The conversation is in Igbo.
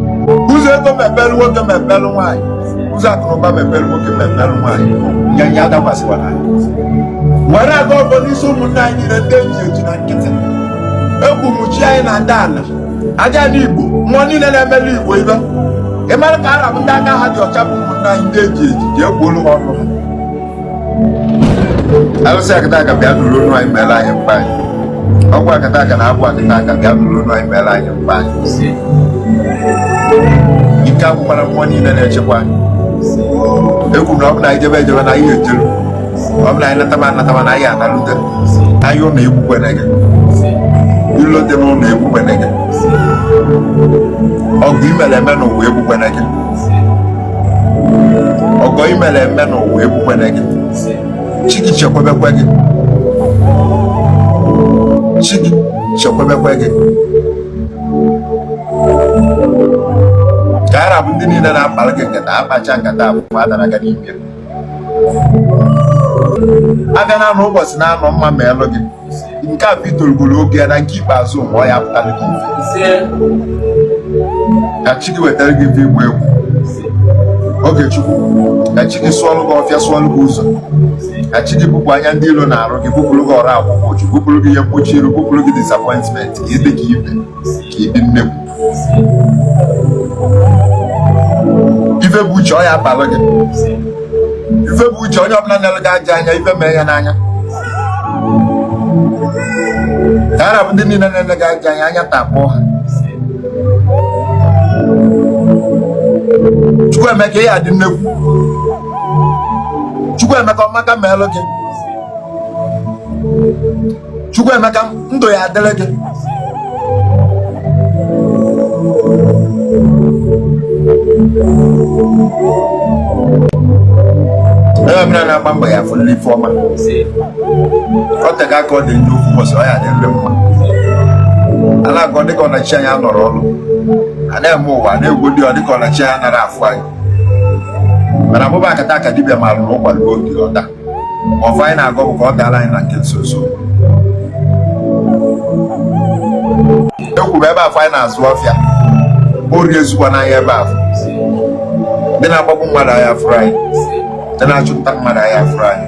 ụzọ ego mepere nwoke mepere nwaanyị ụzọ akụnụba mepere nwoke mepere nwaanyị nyanya adakwasịkwara anyị were agọ ọfọ n'isi ụmụnne anyị niile ndị eji eji na nkịtị egwu mụchi anyị na ndị ala aja ndị igbo mmụọ niile na-emeli igbo ibe ị mara ka ha ra bụ ndị aka ha dị ọcha bụ ụmụnne anyị ndị eji eji ji egbuolu ha ọnụ ha arụsị akataka bịa nụrụ onu anyị mere anyị mkpa anyị ọgwụ akataka na agwụ akataka bịa nụrụ onu anyị mere anyị mkpa anyị ike agwụkwana mmụọ niile na-echekwa anyị ekwu na ọ bụ na anyị jebe ejebe na anyị ejeru ọ bụ na anyị nataba anataba na anyị analute onye ụlọ egbukwana gị ilo dị n'ụlọ egbukwana gị ọgọ i mere eme n'ụwa egbukwana gị ọgọ i mere eme n'ụwa egbukwene gị chi gị chekwebekwe gị chi gị chekwebekwe gị ka ha ra bụ ndị niile na-akpara gị nkata a kpacha nkata afụfụ adara ha n'ime afịa na-anọ ụbọchị na-anọ mma meelụ gị nke a bụ i tolugoro oge ya na nke ikpeazụ mgbe ọ ya-apụtara gị ka chi gị wetara gị ife ịgba egwu Ogechukwu ka chi gị sụọlụ gị ọfịa sụọlụ gị ụzọ ka chi gị bupụ anya ndị ilo na-arọ gị bupụrụ gị ọrụ akwụkwọ uchu bupụrụ gị ihe mkpuchi iru bupụrụ gị disappointment ka ị dị ka ibe ị dị nnekwu ife bụ uche ọ ya abalụ gị ife bụ uche onye ọbụla na-ele gị ajọ anya ife mee ya n'anya ka ha ra bụ ndị niile na-ele gị ajọ anya anya takpọọ ha Chukwuemeka ị ya-adị nnekwu Chukwuemeka ọmaka meelụ gị Chukwuemeka ndụ ya-adịrị gị onye ọbụla na-agba mbọ ya-afụ ife ọma o tega aka ọ dị njọ ofu ụbọchị ọ ya-adịrị mma a na-agọ dịka ọ na chi anyị anọrọ ọrụ a na-eme ụwa na-egwu dị ọ dịka ọ na chi anyị anarọ afụ anyị mana mụ bụ akataka dibịa maalụ na ụkwa ruo oge ọ daa ọfọ anyị na-agọ bụ ka ọ daalụ anyị na nke nso nso ekwuru ebe afụ anyị na-azụ afịa ori ezukwana anyị ebe afụ ndị na-agbagbu mmadụ aya afụrọ anyị ndị na-achụpụta mmadụ aya afụrọ anyị